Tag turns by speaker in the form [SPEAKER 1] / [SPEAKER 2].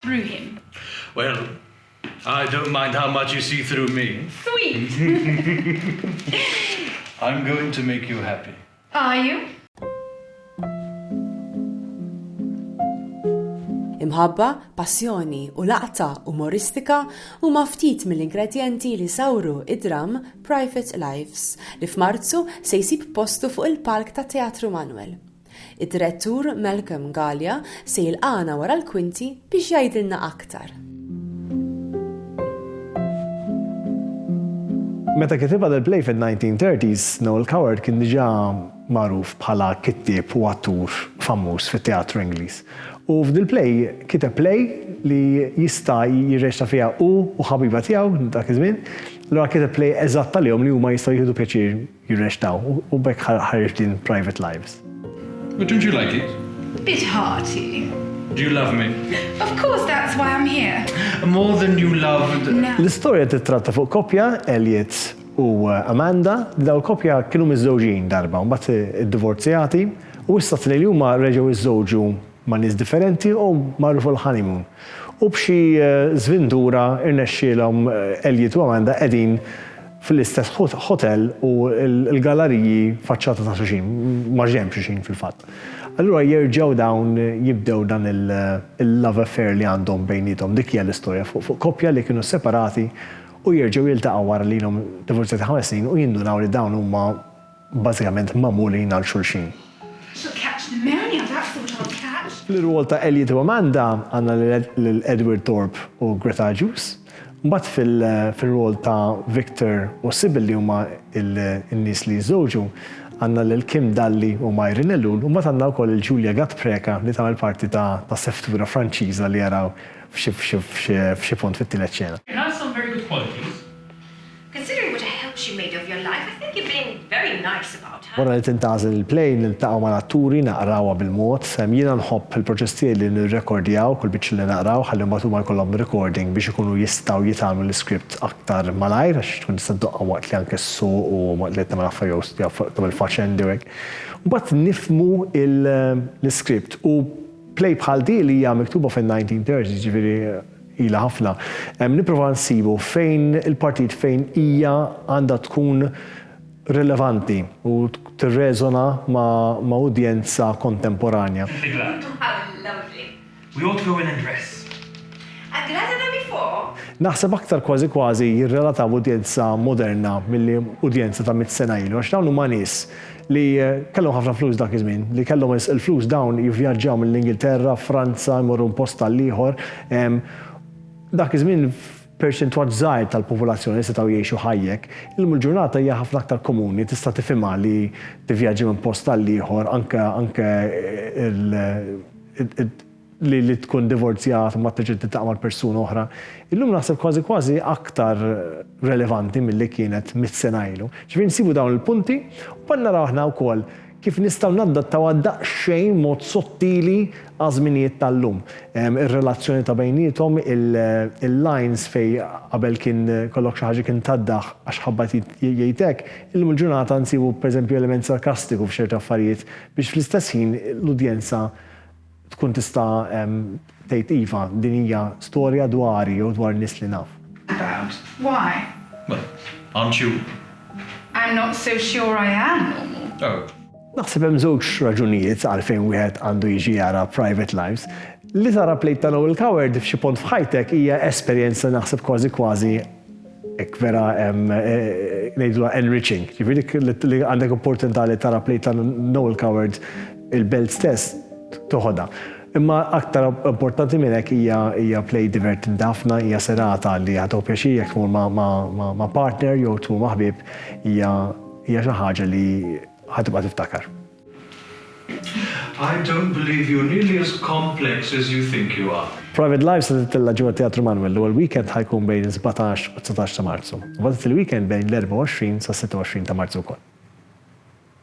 [SPEAKER 1] Bruhim. Well,
[SPEAKER 2] I don't mind how much you see through me. Sweet!
[SPEAKER 1] I'm
[SPEAKER 2] going to make you happy. Are you?
[SPEAKER 3] Imħabba, passjoni u laqta umoristika huma ftit mill-ingredjenti li sawru id-dramm Private Lives, li f'Marzu se jsib postu fuq il-palk tat-Teatru Manuel. Id-Direttur Malcolm Galea se jilqagħna wara l-kwinti biex jgħidilna aktar.
[SPEAKER 4] Meta kitibha dil-play fin-1930s, Noel Coward kien diġà magħruf bħala kittieb u attur famuż fit-teatru Ingliż. U f'dil-play kiteb play li jista' jirreċta fiha hu u ħabiba tiegħu dak iż-żmien. Allura kiteb play eżatt għalihom li huma jistgħu jieħdu pjaċir jirreċtaw u b'hekk ħareġt din Private Lives. But don't you
[SPEAKER 2] like it? A bit hearty.
[SPEAKER 1] Do you love me?
[SPEAKER 2] Of course, that's
[SPEAKER 1] why I'm here. More than you
[SPEAKER 2] loved. L-istorja
[SPEAKER 1] tittratta fuq
[SPEAKER 4] koppja, Elliot u uh, Amanda, li daw koppja kienu miżżewġin darba, mbagħad iddivorzjati u issa li huma reġgħu iżżewġu ma' nies differenti u marru fuq il-honeymoon. U b'xi żvindura rnexxielhom Elliot u Amanda qegħdin fl-istess ħotell u l-gallariji faċċata ta' xulxin, maġenb xulxin fil-fatt. Allura jerġgħu dawn jibdew dan il-love affair li għandhom bejniethom. Dik hija l-istorja fuq koppja li kienu separati u jerġgħu jiltaqgħu wara li ilhom divorzjati ħames snin u jindunaw li dawn huma bażikament magħmulin għal xulxin.
[SPEAKER 1] Fl-irwol ta' Elliot u
[SPEAKER 4] Amanda għandna lil Edward Thorpe u Greta Juice. Mbagħad fir-rwol ta' Victor u Sybil li huma n-nies li jiżżewġu għandna lil Kim Dalli u Myron Ellul u mbagħad għandna wkoll lil Julia Gatpreca li tagħmel parti ta' seftura Franċiża li araw f'xi punt fit-tielet xena.
[SPEAKER 2] Considering
[SPEAKER 5] what a help she made of your life, I think you're being very nice about her. Wara li tintgħażel il-plane,
[SPEAKER 4] niltaqgħu mal-atturi, naqrawha bil-mod. Jiena nħobb il-proċess tiegħi li nirrekordjaw kull biċċa li naqraw ħalli mbagħad huma jkollhom recording biex ikunu jistgħu jitgħallmu l-iskript aktar malajr għax tkun tista' ddoqqa waqt li anke ssuq u waqt li qed tagħmel affarijiet jew jew fuq tagħmel faxendi u hekk. Mbagħad nifhmu l-iskript u play bħal din li hija miktuba fin-1930s jiġifieri Ilha ħafna. Hemm nipprova nsibu fejn il-partijiet fejn hija għandha tkun rilevanti u tirreżona ma' ma' udjenza kontemporanja. If the glad. How
[SPEAKER 5] lovely. We ought to go in
[SPEAKER 2] and dress. A glad
[SPEAKER 5] and a before. Naħseb aktar kważi
[SPEAKER 4] kważi jirrelataw udjenza moderna milli udjenza ta' mitt sena ilu għax dawn huma nies li kellhom ħafna flus dak iż-żmien, li kellhom il-flus dawn jivvjaġġaw mill-Ingilterra, Franza, jmorru minn post għal ieħor. Dak iż-żmien perċentwal żgħir tal-popolazzjoni setgħu jgħixu ħajja hekk. Illum il-ġurnata hija ħafna aktar komuni, tista' tifhimha li tivvjaġġa minn post għal ieħor anke anke li li tkun divorzjat u ma terġa' tiltaqa' mal-persuna oħra, illum naħseb kważi kważi aktar relevanti milli kienet mitt sena ilu. Ġifieri nsibu dawn il-punti u mbagħad naraw aħna wkoll kif nistgħu nadattawha daqsxejn b'mod sottili għaż-żminijiet tal-lum. Ir-relazzjoni ta' bejniethom, il-lines fejn qabel kien kollok xi ħaġa kien taddah għax ħabbat jgħid hekk, illum il-ġurnata nsibu pereżempju element sarkastiku f'ċerti affarijiet biex fl-istess ħin l-udjenza Tkun tista' tgħid iva, din hija storja dwari jew dwar nies li naf. About
[SPEAKER 1] why? Well,
[SPEAKER 2] aren't you? I'm not
[SPEAKER 1] so sure I am normal. Oh. Naħseb
[SPEAKER 2] hemm żewġ
[SPEAKER 4] raġunijiet għalfejn wieħed għandu jiġi jara Private Lives. Li tara plejt ta' Noel Coward f'xi pont f'ħajtek hija esperjenza naħseb kważi kważi Hekk vera hemm, ngħidilha enriching, jiġifieri li għandek opportunità li tara play ta' Noel Coward, il-belt stess toħodha. Imma aktar importanti minn hekk hija hija play divertenti ħafna, hija serata li ħa tieħu pjaċir jekk tmur ma' partner jew tmur ma' ħbieb, hija hija xi ħaġa li ħa tibqa' tiftakar.
[SPEAKER 2] I don't believe you're nearly as complex as you think you are. Private Life se titilla'
[SPEAKER 4] ġewwa Teatru Manwel l-ewwel weekend ħa jkun bejn is-sbatax u t-dsatax ta' Marzu, u mbagħad it-tieni weekend bejn l-24 sas-26 ta' Marzu wkoll.